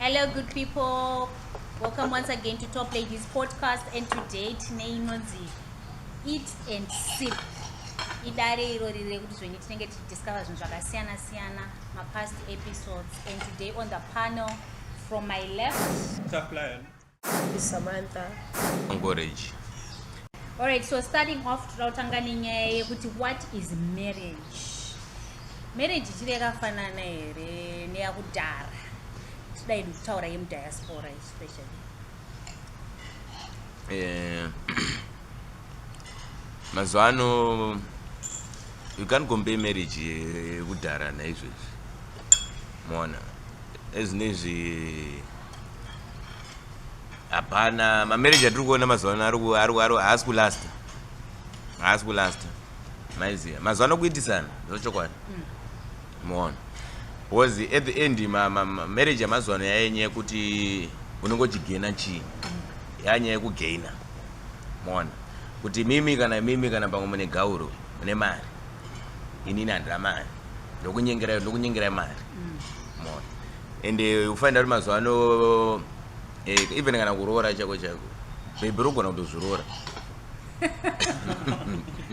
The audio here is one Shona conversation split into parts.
Hello good people. Welcome once again to Top Ladies podcast and today tine inonzi eat and sip. Idare iro riri rekuti zvenyu tinenge tichidiscover zvinhu zvakasiyana siyana mapast episodes and today on the panel from my left Top Lion. Samantha Anchorage. All right, so starting off totanga nenyaya yekuti what is marriage? Marriage chiri yakafanana here neyakudhara? Toda hedu kutaura yemudiaspora especially. Eh, mazuva ano you can't compare marriage yekudhara naizvezvi moona ezvinezvi hapana mamarriage atiri kuona mazuva ano haasi kulasta haasi kulasta maiziva mazuva ano kuitisana zvochokwadi hmm. moona was at the end marriage yamazuva ano yayenyaya yekuti unenge uchigena chii hmm. yanyaya yekugaina moona kuti mimi kana mimi kana pamwe mune gauro mune mari inini handina mari ndokunyengera ndokunyengera mari hmm. moona and eh, ufanira kuti mazuva ano eh, even kana kuroora chako chako bhebhi rogona kutozviroora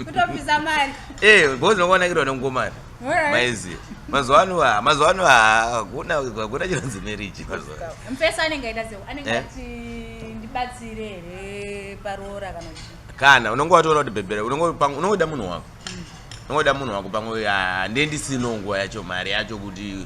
kutobvisa mari eh because nokuonakirwa nengomari maizi mazuva ano ha mazuva ano hakuna hakuna chinonzi marriage mazuva ano mpesa anenge aita zeu anenge eh? ati ndibatsire here paroora kana kuti kana unenge watoona kuti bhebhera unongoda munhu wako unongoda munhu wako pamwe handie ndisino nguva yacho mari yacho kuti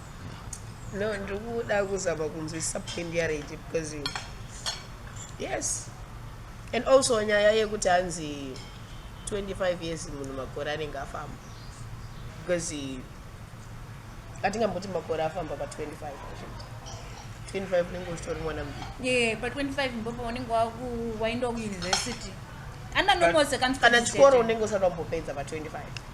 No, ndiri kuda kuzama kunzwisisa point yaRegi because you yes and also nyaya yekuti hanzi 25 years munhu makore anenge afamba because atingamboti makore afamba pa 25 25 unenge uchitori mwana ye pa 25 mbopo unenge wainda kuuniversity andanomose kana chikoro unenge usati wambopedza pa 25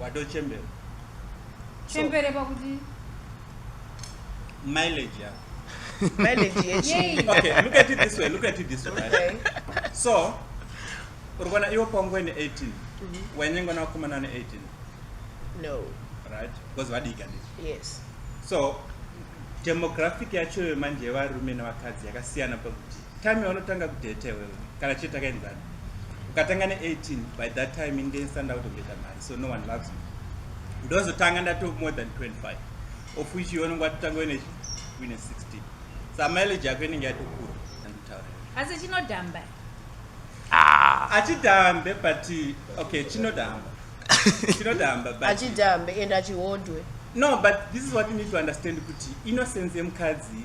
watochembera chembere pakuti mileage yako mileage yechii okay look at it this way look at it this way right? okay. so uri kuona iwe pangwe ne 18 wainyengwa navakomana ne 18 no right because vadika ndi yes so demographic yacho manje yevarume nevakadzi yakasiyana pakuti Time yaunotanga kudate wewe kana chete takaenzana. Ukatanga ne 18 by that time inde stand out of the mari so no one loves me. Ndozo tanga ndato more than 25 of which you only got tango ine wine 16. Sa mileage yako inenge yatokura nditaure. Asi chinodamba. Ah. Achidambe but okay chinodamba. Chinodamba but achidambe and achihodwe. No but this is what you need to understand kuti innocence yemukadzi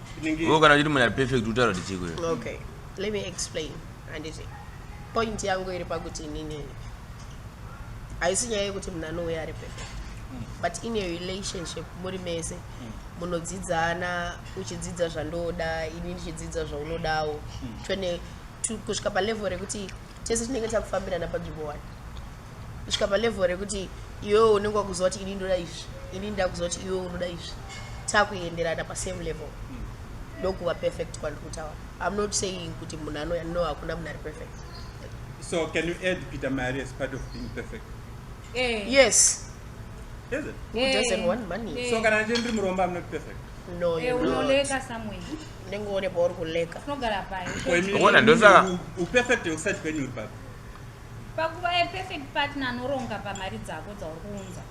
wo kana uchiti munhu ari perfect utaura kuti chiko okay let me explain handiti point yangu iri pakuti inini haisi nyaya yekuti munhu anouya ari perfect but in a relationship muri mese munodzidzana uchidzidza zvandoda ini ndichidzidza zvaunodawo kusvika palevel rekuti tese tinenge takufambirana panzvimbo one kusvika palevel rekuti iwewo unenge wakuziva kuti ini ndoda izvi ini ndakuziva kuti iwewo unoda izvi takuenderana pasame level ndokuva perfect kwandiri kutaura im not saying kuti munhu anoya no hakuna munhu ari perfect so can you add peter mari as part of being perfect eh. yes is it eh. who doesn't want money so kana ndiri muromba im not perfect no eh, unoleka somewhere unenge uone pauri kuleka unogara paiona ndosaka uperfect usati kwenyu uri papi pakuva yeperfect partner anoronga pamari dzako dzauri kuunza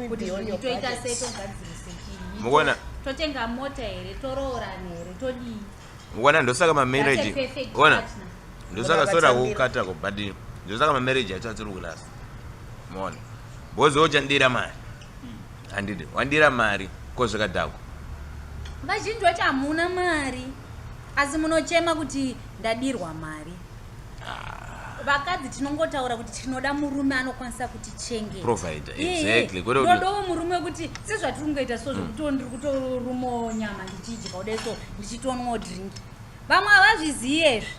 kuti toita sei togadzirise chii mukuona totenga mota here toroorana here todii mukuona ndosaka mamarriage ona ndosaka sora kukata kubhadhini ndosaka mamarriage acho atiri kulasa muona bozi ochandira mari handidi wandira mari ko zvakadhakwa vazhinji vacho hamuna mari asi munochema kuti ndadirwa mari ah. vakadzi tinongotaura kuti tinoda murume anokwanisa kuti chengetandodawo murume wekuti sezvatiri kungoita so zvekuti hmm. ndiri kutorumawo nyama ndichidya kudai so ndichitonwawo drink vamwe havazviziye izvi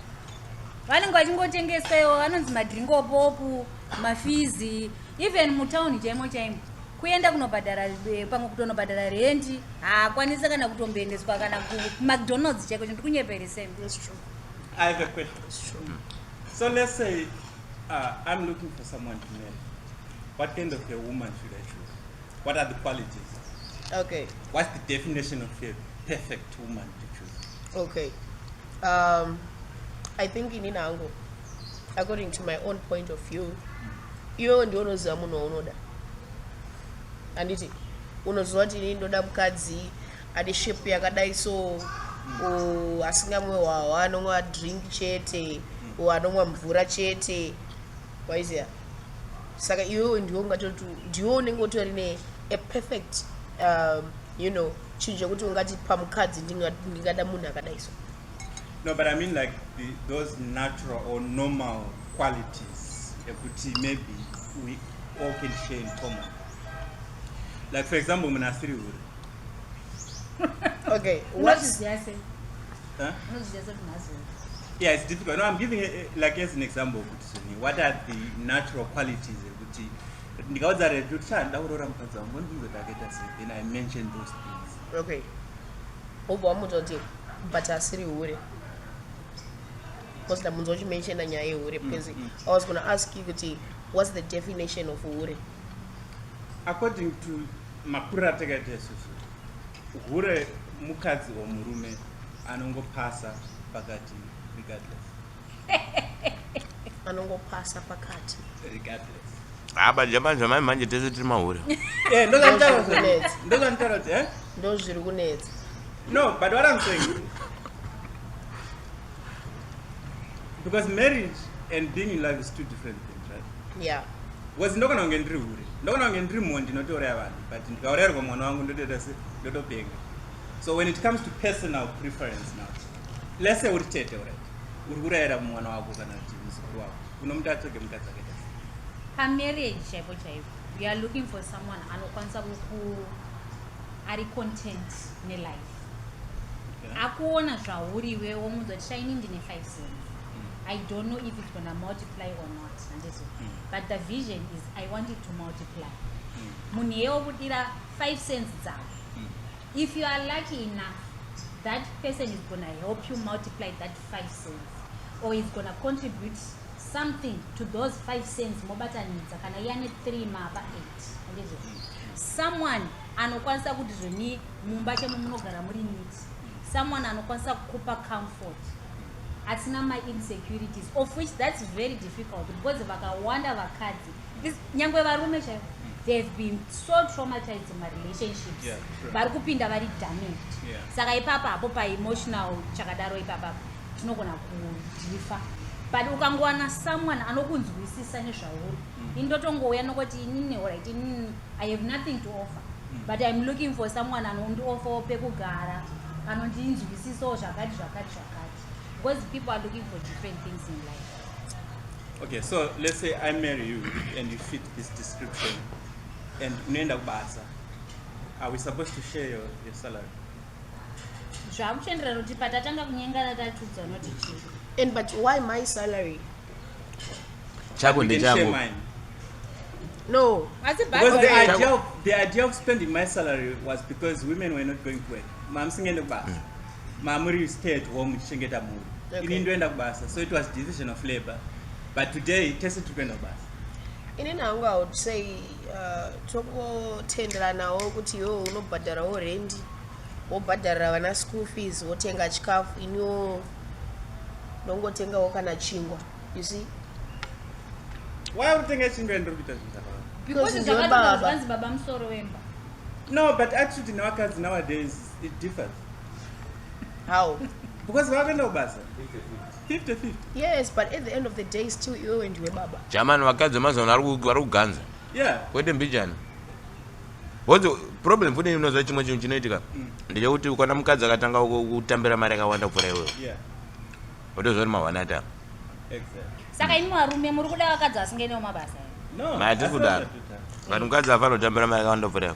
vanenge vachingotengeswa iwo vanonzi madrink opopu mafizi even mutown chaimo chaimo kuenda kunobhadhara eh, pamwe kutonobhadhara rendi haakwanise kana kutomboendeswa kana kumacdonalds chaiko chinhu tikunyepereseni so let's say uh, i'm looking for someone to marry what kind of a woman should i choose what are the qualities okay what's the definition of a perfect woman to choose okay um, i think inini hangu according to my own point of view iwewe ndiwe unoziva munhu waunoda handiti unoziva kuti ini ndoda mukadzi ane shape yakadai so asingamwe hwahwa anomwa drink chete o anomwa mvura chete waiziva saka iwewe ndiwe ungatoti ndiwe unenge utori ne a perfect um, you know chinhu chekuti ungati pamukadzi ndingada munhu akadai so No, but I mean like the, those natural or normal qualities ekuti maybe we all can share in common. Like for example, muna asiri hure. okay, what is the answer? Huh? Yeah, it's difficult. No, I'm giving a, eh, like as an example. What are the natural qualities? Ndikaudza redu kuti chandauroora mukadzi wangu ndinzwe ndakaita sei then I mention those things. okay wobva wamudza kuti but asiri hure because ndabunza uchimenshena nyaya yehure mm, because mm. i was gonna ask you kuti what's the definition of hure according to makuru atakaita isusu hure mukadzi or murume anongopasa pakati regardless anongopasa pakati abanja banja mai manje tese tiri mahure eh, ndo zviri kunetsa no but what i'm saying because marriage and being in love is two different things right yeah because ndokona kunge ndiri hure ndokona kunge ndiri mhondi ndinotouraya vanhu but ndikaurayirwa mwana wangu ndotoita se ndotopenga so when it comes to personal preference now let's say uri tete ure uri kurayira mwana wako kana kuti muzukuru wako unomuti atsvage mukadzi akaita pamarriage chaipo chaipo you are looking for someone anokwanisa kuku ari content nelife akuona zvauri iwe womunzwa kuti shaini ndine five cents mm. i don't know if it's gonna multiply or not andizo mm. but the vision is i want it to multiply mm. munhu mm. yeye wokudira five cents dzavo If you are lucky enough that person is gonna help you multiply that 5 cents or is gonna contribute something to those 5 cents mobatanidza kana yane 3 mapa 8 ndizvo someone anokwanisa kuti zvoni mumba chemo munogara muri niti someone anokwanisa kukupa comfort asina mainsecurities of which thats very difficult because vakawanda vakadzi nyangwe varume chaivo they have been so traumatized in marelationships yeah, sure. vari kupinda vari damaged yeah. saka ipapa hapo paemotional chakadaro ipapa tinogona kudhifa but ukangowana someone anokunzwisisa nezvauri mm. ini ndotongouya nokuti inini orit inini i have nothing to offer mm. but im looking for someone anondiofawo pekugara anondinzwisisawo zvakati zvakati zvakati because people are looking for different things in life Okay, so let's say I marry you and you fit this description and unoenda kubasa. Are we supposed to share your, your salary? zvakuchenderera kuti patatanga kunyengana tatiudza noti chii and but why my salary chako You can share ndechangu mine. no asi Because the bhazi idea, of, the idea of spending my salary was because women were not going to work. Mom singeende kubasa. mamuri stay at home tichengeta mhuri okay. ini ndoenda kubasa so it was decision of labor but today tese tiri kuenda kubasa ini nangu i would say uh, tokotenderanawo kuti iwewo unobhadharawo rendi wobhadharira vana school fees wotenga chikafu iniwo ndongotengawo kana chingwa you see why uri kutenga chingwa ndiri kuita zvinhu zvakawanda because ndibaba no but attitude nevakadzi nowadays it differs how because vakaenda kubasa 50 50 yes but at the end of the day still iwe wendiwe baba jamani vakadzi vemazuva ano vari kuganza yeah kwete mbijana What's the problem futi unoziva chimwe chinhu chinoitika mm. ndechekuti ukona mukadzi akatanga kutambira mari akawanda kupfuura iwewo wotozvori mahwanata saka ini varume muri kuda vakadzi vasingaenewo mabasa matiri kudaro vanhu mukadzi afanotambira mari akawanda kupfuura iwe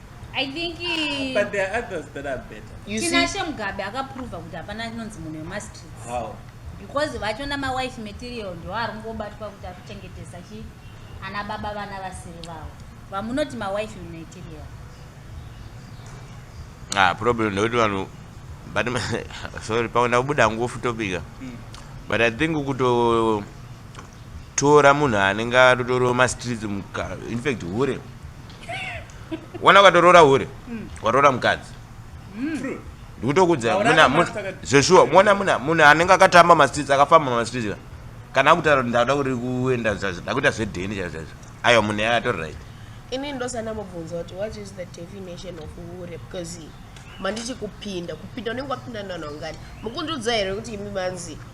I think he... But there are others that are better. You see? Tinashe Mugabe akaprova kuti hapana anonzi munhu wemastreets. How? Because vacho namawife material ndiwo ari kungobatwa kuti ari kuchengetesa chi ana baba vana vasiri vavo. Vamunoti mawife material. Ah, problem ndekuti vanhu but sorry paona kubuda ngufu topika. Mm. But I think kuto tora munhu anenge atotorowa mastreets infact hure wana ukatoroora hure hmm. watoora mukadzi hmm. ndikutokuudza zveshuwa mona munhu anenge akatamba mastreets akafamba mastreets ka kana akutaura kuti ndakuda kuri kuenda zvazvo ndakuita zvedheni chaizvo chaizvo aiwa munhu yaya atori right ini ndosana mubvunza kuti what is the definition of hure because mandichi kupinda kupinda unenge wapinda nanongani mukundiudza here kuti imi manzi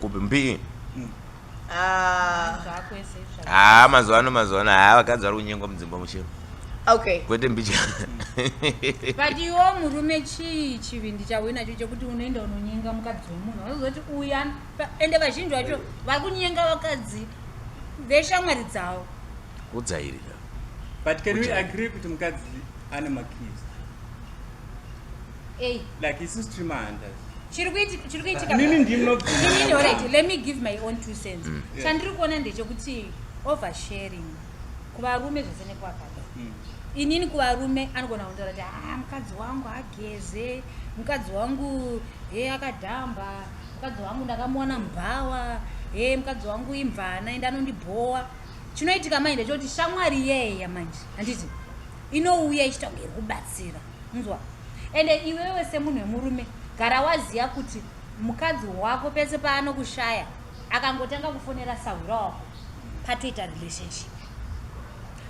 kupi mbii ah. haa ah, mazuva ano mazuva ano haa ah, vakadzi vari kunyengwa mudzimba muchero okay kwete mbicha but iwo murume chii chivindi chauyo nacho chekuti unoenda unonyenga mukadzi wemunhu vanozoti uya ende vazhinji vacho vari kunyenga vakadzi veshamwari dzavo kudzairira but can we agree kuti mukadzi ane makizi Hey. Like isu streamer hunters. Chiri kuitika chiri kuitika. Ah, nini ndimi no. Nini already let me give my own two cents. Mm. Chandiri kuona ndechekuti over sharing kuvarume zvese nekwakada. Mm. Inini kuvarume anogona kundora kuti ah mukadzi wangu ageze, mukadzi wangu he akadhamba, mukadzi wangu ndakamuona mbhawa, he mukadzi wangu imvana ende anondibhowa. Chinoitika manje ndechekuti shamwari yeya manje handiti inouya ichitaura iri kubatsira. nzwa ende iwewe semunhu wemurume gara waziva kuti mukadzi wako pese paanokushaya akangotanga kufonera sahwira wako patoita relationship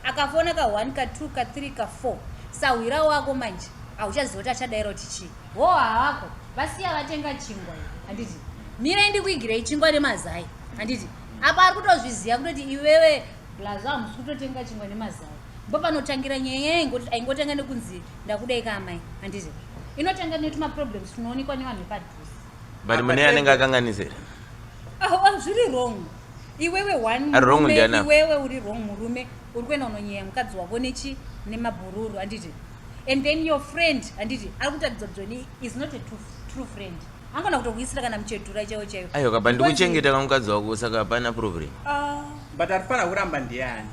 akafona ka one ka two ka three ka four sahwira wako manje hauchaziva kuti achadaira kuti chii wo hawako vasiya vatenga chingwa handiti mirai ndikuigirei chingwa nemazai handiti apa ari kutozviziva kutoti iwewe Blaz hamusi kutotenga chingwa nemazai. Ndopanotangira nyaya yayo ingoti aingotanga nekunzi ndakudai ka amai handizi. Inotanga netuma problems tunoonekwa nevanhu vepadhuze. But mune anenge akanganisira. Ah, ah, zviri wrong. Iwewe one ah, wrong ndiana. Iwewe uri wrong murume uri kuenda unonyeya mukadzi wako nechi nemabhururu handiti. And then your friend handiti ari kutaridza kuti is not a true, true friend. angona kutokuisira kana muchedhura chaiwo chaiwo ayo kaba ndikuchengeta kamukadzi wako saka hapana problem ah. but arifana kuramba ndiyani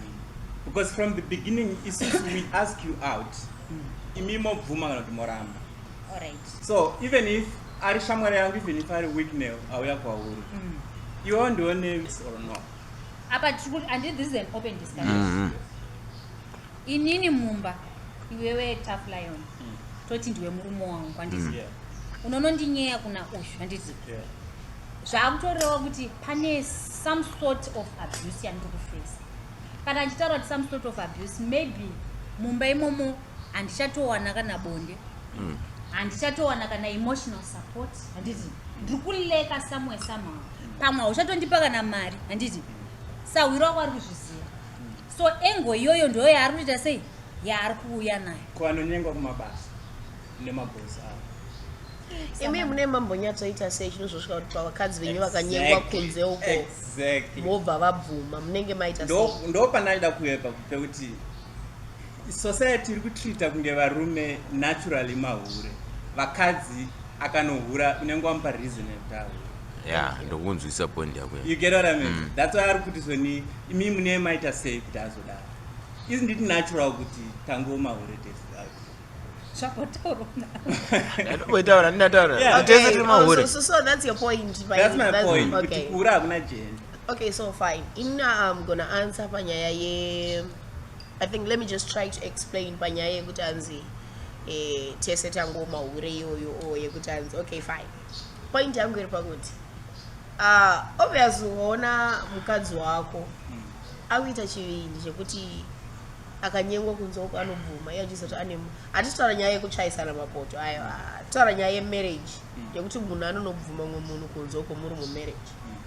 because from the beginning isusu we ask you out imi mobvuma kana kuti moramba so even if ari shamwari yangu even if ari weaknel auya kwauri mm. iwewo ndione or no apa tiri kuti and this is an open discussion mm -hmm. inini mumba iwewe tough lion mm. toti ndiwe murume wangu kwandizi mm. yeah. unonondinyeya kuna ushu handiti yeah. zvaakutoreva kuti pane some sort of abuse yandiri kufesa kana achitaura kuti some sort of abuse maybe mumba imomo handichatowana kana bonde mm. handichatowana mm. kana emotional support handiti ndiri kuleka somewhere somehow pamwe hauchatondipa kana mari handiti sahwiro wako ari kuzviziva so engo iyoyo ndoyo yaari kuita sei yaari kuuya nayo ko anonyengwa kumabasa nemabhosi avo imi mune mambonyatsoita sei chino zvosvika kuti pavakadzi venyu vakanyengwa kunze uko mobva vabvuma munenge maita ndo pandaida kuepa pekuti society iri kutreata kunge varume naturally mahure vakadzi akanohura unenge wamupa reason yekuti ahure ya ndokunzwisa point yako you get what i mean mm. that's why ari kuti soni imi mune maita sei kuti azodaro isn't it natural kuti tangooma hure tese zvakotauraoitaura ndinataura tese tiri mahure oh, so that's your point that's my that's, point okay. kuti kuura hakuna jeni okay so fine in um, gonna answer panyaya ye i think let me just try to explain panyaya yekuti anzi eh, tese tangooma hure iyoyo o oh, yekuti anzi okay fine point yangu iri pakuti ah, obvious ukaona mukadzi wako mm. akuita chivindi chekuti akanyengwa kunze uko anobvuma iye achizoti ane hatisi taura nyaya yekutsvaisana mapoto ayo ah, taura nyaya yemarriage mm. yekuti munhu anonobvuma mumwe munhu kunze uko muri mumarriage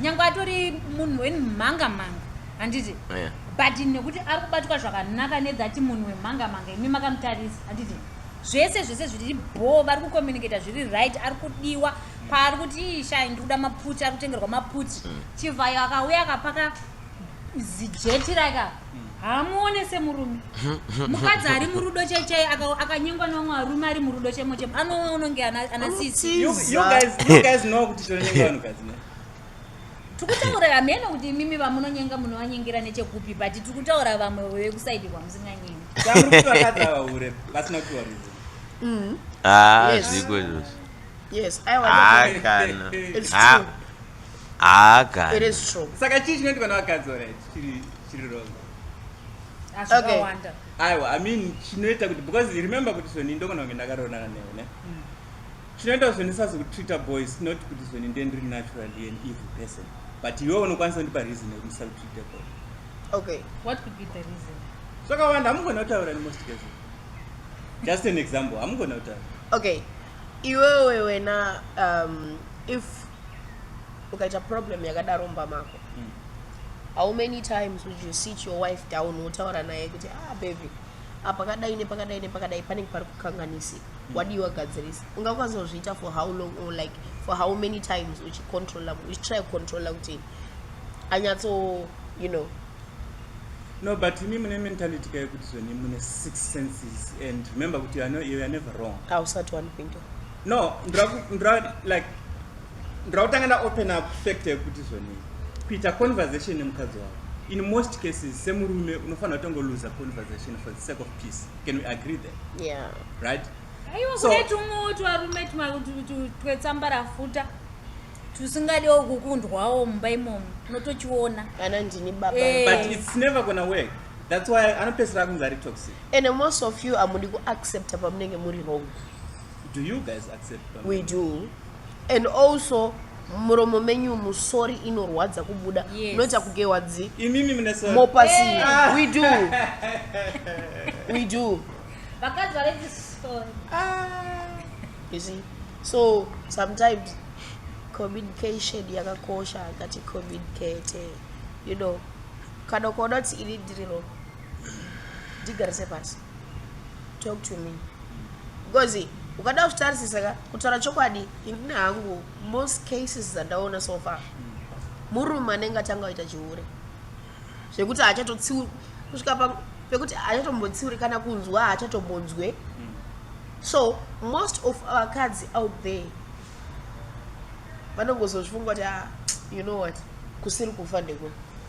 nyange atori munhu wenmhanga mhanga handiti yeah. but nekuti ari kubatwa zvakanaka nedzati munhu wemhanga mhanga imi makamutarisa handiti zvese zvese zviri bhoo vari kucommunicata zviri right ari kudiwa paari kuti ii shai ndikuda maputi ari kutengerwa maputi mm. chivhayo akauya akapaka zijeti rake apa haamuone semurume mukadzi ari murudo chaichai akanyengwa nevamwe varume ari murudo chaimo chaimo anoona unonge ana sisi tikutaura hameno kuti imimi vamunonyenga munovanyengira nechekupi but tikutaura vamwe vekusaidi kwamusinganyengi mm. ah, zviko izvozvo yes i want ah, to it's true ah, ah, it is true saka chii chinoitikwa nevakadzi already Okay. Aiwa, I mean chinoita kuti because remember kuti zvoni ndogona kunge ndakaronana newe ne. Mm. Chinoita zvoni sazo kutreater boys not kuti zvoni ndiye ndiri naturally an evil person. But iwe unokwanisa kundipa reason yekuti ndisaka kutreater boy. Okay. What could be the reason? Zvakawanda hamugona kutaura in most cases. Just an example, hamugona kutaura. Okay. Iwewe wena um if ukaita problem yakadaro mba mako how many times would you sit your wife down wotaura naye kuti ah baby apakadai nepakadai nepakadai panenge pari kukanganisika mm. wadii wagadzirisa unga ukazozviita for how long or like for how many times uchicontrola uchitry kucontrola kuti anyatso you know no but imi mune mentality kaye kuti zveni mune six senses and remember kuti you are never wrong ausati wanipinda no ndrakutanga ndaopen up fact yekuti zvonei kuita conversation nemukadzi wavo in most cases semurume unofanira kutongoluza conversation for the sake of peace can we agree there yeah. right aiwa kune tumwewo twarume twetsambarafuta tusingadiwo kukundwawo mumba imomo unotochiona kana ndini baba eh. but it's never gonna work that's why anopesera kunge ari toxic and most of you amudi kuaccepta pamunenge muri wrong Do you guys accept pamene? We do. And also muromo menyu musori inorwadza kubuda Yes. unoita kugewa dzi Imimi mune sorry. mopasi we do we do vakadzi vari chisori you see so sometimes communication yakakosha akati communicate you know kana ukaona kuti ini ndiri wrong ndigarise pasi talk to me because ukada kutarisisa ka kutaura chokwadi ini hangu most cases dzandaona so far murume anenge atanga aita chihure zvekuti haachatotsiuri kusvika pa pekuti haachatombontsiuri kana kunzwa haachatombonzwe hmm. so most of vakadzi out there vanongozozvifunga kuti ah, you know what kusiri kufa ndeko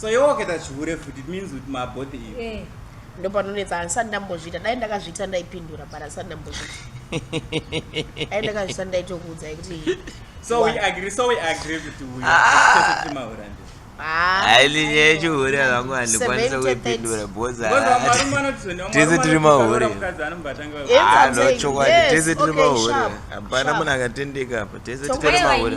so iwe wakaita chihure futi it means kuti mabothe iyo eh. ndopanonetsa handisati ndambozviita dai ndakazviita ndaipindura but handisati ndambozviita dai ndakazviita ndaitokuudzai kuti so we agree so we agree kuti uyo ah. mahura ndi ailinye chihure vangu handikwanisa kuipindura bozatese tiri mahure anochokwadi tese tiri mahure hapana munhu akatendeka apa tese titiri mahure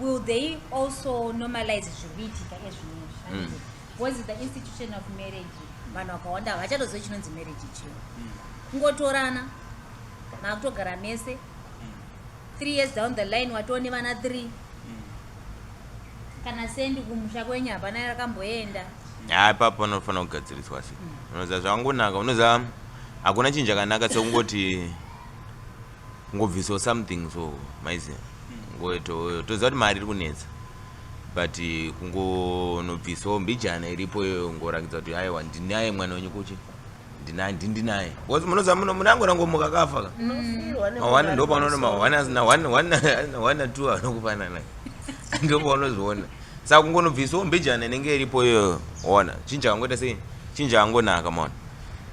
will they also normalize zviri kuitika ezvinezvi mm. because the institution of marriage vanhu vakawanda havachatoziva chinonzi marriage chio mm. kungotorana maakutogara mese mm. three years down the line watoo nevana three mm. kana sendi kumusha kwenyu hapana yarakamboenda haa ipapo panofanira kugadziriswa se mm. unoziva zvakangonaka unoziva hakuna chinhu chakanaka sekungoti ngobviso something so maiziva ngotoziva kuti mari iri kunetsa but kungonobvisawo mbijana iripo iyoyo ngorakidza kuti aiwa ndinaye mwana wenyu kuchi ndinaye ndindinaye because munoziva muno munangorangomuka kafa ka mawana ndo panoona mawana asina wana two anokufanana ndo paunozviona saka kungonobvisawo mbijana inenge iripo iyoyo ona chinja kangoita sei chinja kangonaka maona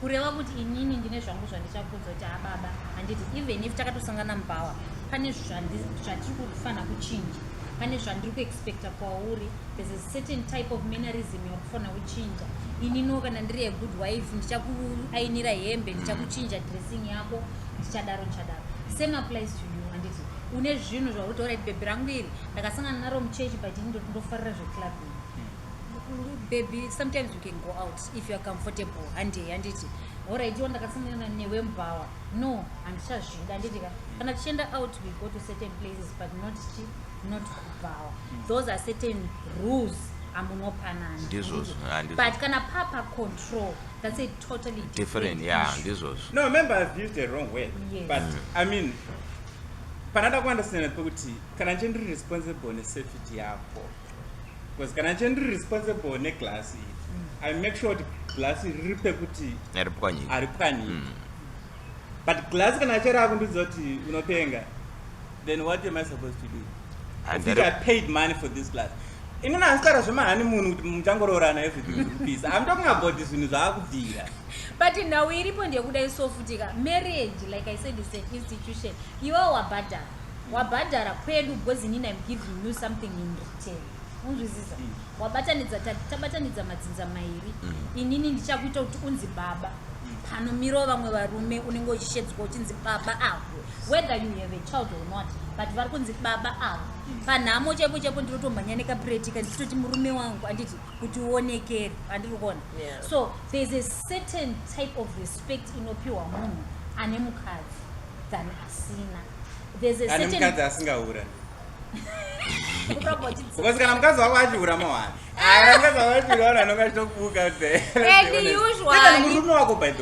kureva kuti inini ndine zvangu zvandichakunzwa kuti ababa handiti even if takatosangana mupower pane zvatiri kufanira kuchinja pane zvandiri kuexpecta kwauri there's a certain type of mannerism yakufanira kuchinja inino kana ndiri a good wife ndichakuainira hembe ndichakuchinja dressing yako ndichadaro ndichadaro same applies to you handiti une zvinhu zvakuti orit bhebhi rangu iri ndakasangana naro muchechi but ini ndoti ndofarira zveclub bhebhi sometimes you can go out if youare comfortable handei handiti orit iwo ndakasangana newe mubhawa no handichazvida handiti ka kana tichienda out we go to certain places but not chi not kubhawa hmm. those are certain rules amunopanana ndizvozvo but kana papa control that's it totally different, different yeah ndizvozvo no remember i've used a wrong way yes. but mm. i mean panada kuandastanda pekuti kana nje ndiri responsible nesafety yako because kana nje ndiri responsible neglass iri mm. i make sure kuti glass iri riri pekuti aripwanyika mm. but glass kana chero akundiudza kuti unopenga Then what am I supposed to do? I think I paid money for this class. Ini na askara zvema hani munhu kuti muchangororana everything is peace. I'm talking about this zvinhu zvakubvira. But now we repond yekuda isofutika. Marriage like I said is an institution. You are wabhadhara. Wabhadhara kwedu because inini I'm giving you something in return. unzwisisa wabatanidza tabatanidza madzinza mairi mm. inini ndichakuita kuti unzi baba panomirawo vamwe varume unenge uchishedzwa uchinzi baba avo whether you have a child or not but vari kunzi baba avo panhamo chaipo chaipo ndinotomhanya nekapuretika ndichitoti murume wangu anditi kuti uonekere andiri kuona so thereis a certain type of respect inopiwa munhu ane mukadzi than asina thereis a certain... asingaura because kana mukadzi wako achihura mawani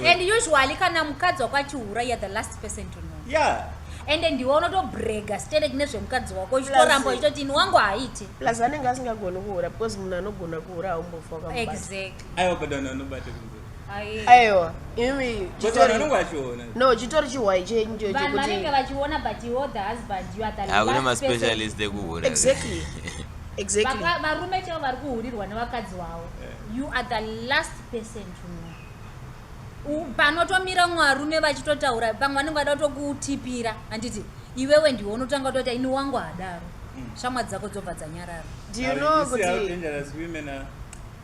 and usually kana mukadzi wako achihura you're the last person to know yeah ende ndiwe unotobrega sterek nezvemukadzi wako uchitoramba uchitoti ini wangu haaiti plus anenge asingagoni kuhura because munhu anogona kuhura haumbofa wakamubaaiwa but anhu anobata aiwa imi no chitori chihwai chenyu chochokuti vanenge vachiona but you the husband you are the last hakuna maspecialist ekuhura exactly exactly varume chavo vari kuhurirwa nevakadzi wavo you are the last person to know panotomira mwarume vachitotaura pamwe vanenge vada kutokutipira handiti iwewe ndiwe unotanga kutoita ini wangu hadaro mm. shamwa dzako dzobva dzanyarara do you know kuti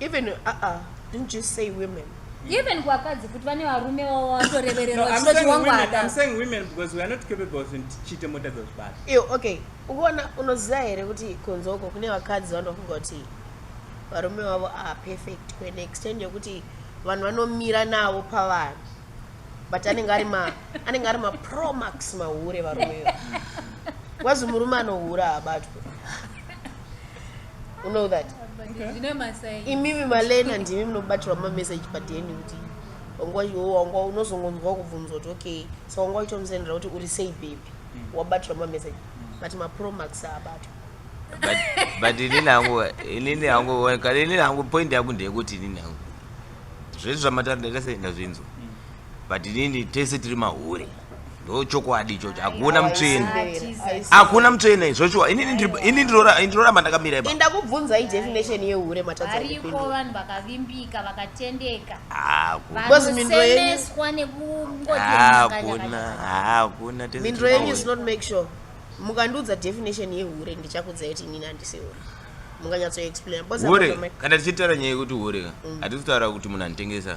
even uh -uh. didn't you say women even kuvakadzi kuti vane varume vavo vatorevereraoke ukuona unoziva here kuti kunze uko kune vakadzi vanofunga kuti varume vavo are perfect kuan extent yekuti vanhu vanomira navo pavanhu but anenge ari anenge ari mapromax mahure varume wazi murume anohura abatwe You know that? Imimi malena ndimi munobatirwa mameseji padeni kuti wanga unozongonzwa kubvunzwa kuti okay so wanga uchitomusendera kuti uri sei baby mm. wabatirwa mameseji mm. but mapromax abatwa but inini hangu inini hangu inini hangu point yangu ndeyekuti inini hangu zvese zvamataura ndaita sei ndazvinzwa mm. but inini tese tiri mahure ndochokwadi ichocho hakuna mutsvene hakuna mutsvene zvoshuwa inini ndinoramba ndakamira ipa ndakubvunzai definition yehure matadzariko vanhu vakavimbika vakatendeka vakusemeswa nekungohakuna hakuna mindro yenyu is not make sure mukandiudza definition yehure ndichakudzai kuti inini handisi hure mukanyatsoexplain hure kana tichitaura nyaya yekuti hure mm. hatisi kutaura kuti munhu anotengesa